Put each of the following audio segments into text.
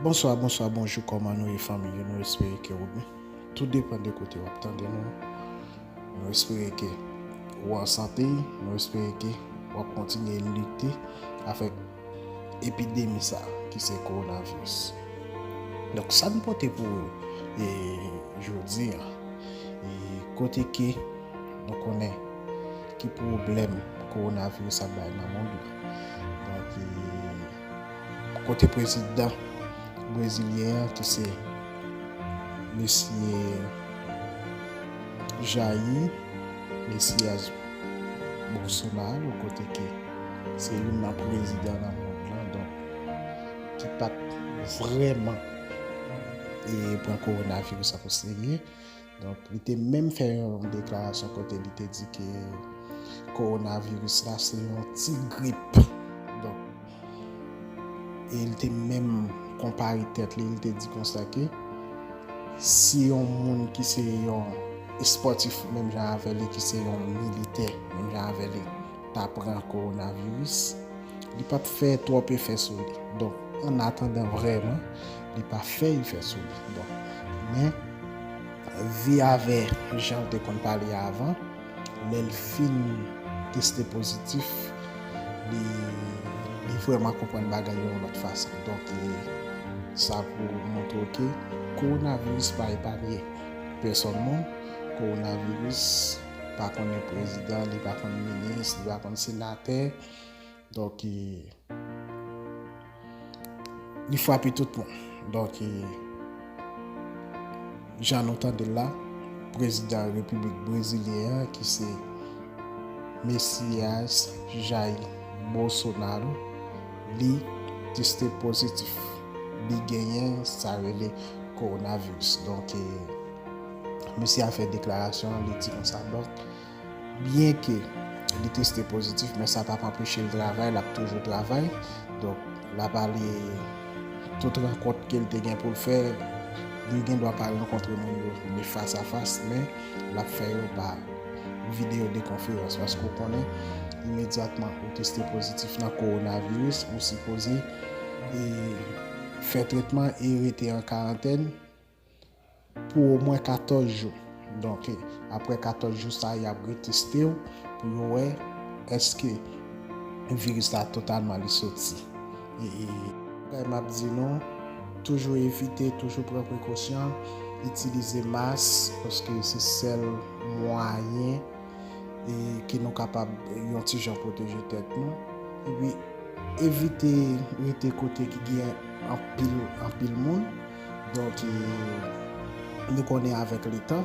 Bonswa bonswa bonjou kòman nou ye fanmi yo nou espere ke ou byen tou depan de kote wap tande nou nou espere ke ou an sante nou espere ke wap kontinye lite avèk epidemi sa ki se korona viris donk sa nou pote pou ou e jodi an e kote ke nou konnen ki pwoblèm korona viris ap bay nan mond lan donk e. Kote prezidan brezilyen an ki se mesye Jair Messias Bolsonaro kote ke se youn nan prezidan nan mond lan donk ki pat vrèman e pran kowonaviris ak o serye. Donk li te menm fè yon deklarasyon kote li te di ke kowonaviris la se yon ti grip. Donk e li te menm konpare tèt li, li te di konsa ke si yon moun ki se yon espòtif menm jan avè li, ki se yon militè menm jan avè li ta pran kowonaviris, li pap fè twòp efè sou li. Donk an atandan vrèman Li pa fè efè sou li. Bon. Men, Vi avè jan l te konn pale avan, lè l fin teste pozitif, li li vrèman konprann bagay yo yon lòt fason. Donk, sa pou montre w ke kowonaviris pa epanye pèsòn moun. Kowonaviris pa konnen prezidan, li pa konn minis, li pa konn senatè. Donk e. Li fwape tout moun. Donk e. Jan nou tande l la, prezidan repiblik brezilyen an ki se Messias Jair Bolsonaro, li teste pozitif. Li genyen sa rele coronavirus. Donk e. Mesye a fè deklarasyon an, li di konsa donk. Byenke li teste pozitif men sa pap anpeche l travay, lap toujou travay. Donk lap ale tout rankont ke l te gen pou l fè, li gen dwa pa rankontre moun yo ni fas a fas men lap fè yo pa videyo de konferans paske ou konnen imedyatman ou teste pozitif nan kowonaviris ou sipoze fè tretman e rete an karantèn. pou omwen 14 jou. Donk, apre 14 jou sa a, y ap reteste w pou yo wè èske viris la totalman li soti. Bagay m ap di nou, toujou evite, toujou pran prekosyon, itilize mas, paske se sèl mwayen ke nou kapab yon ti jan pwoteje tèt nou. Epi, evite rete kote ki gen anpil anpil moun. Donk e nou konnen avèk letan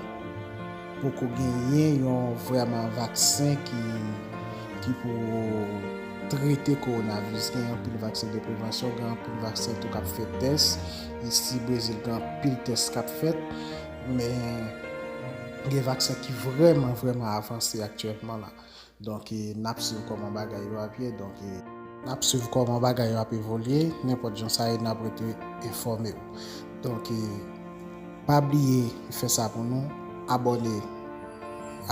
poko genyen yon vrèman vaksen ki pou trete kowonaviris. Gen anpil vaksen de prevansyon, gen anpil vaksen tou k ap fè tès. Isi Brezil gen anpil tès k ap fèt. Men gen vaksen ki vrèman vrèman avanse aktyèlman la. Donk nap swiv koman bagay yo ap ye donk. Nap swiv koman bagay yo ap evolye nenpot jan sa ye nap rete enfome w donk pa bliye fè sa pou nou abone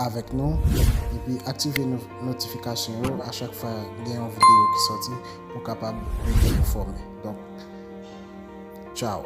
avek nou epi aktive notifikasyon yo a chak fwa gen yon video ki soti pou kapab rete enfome donk tchao.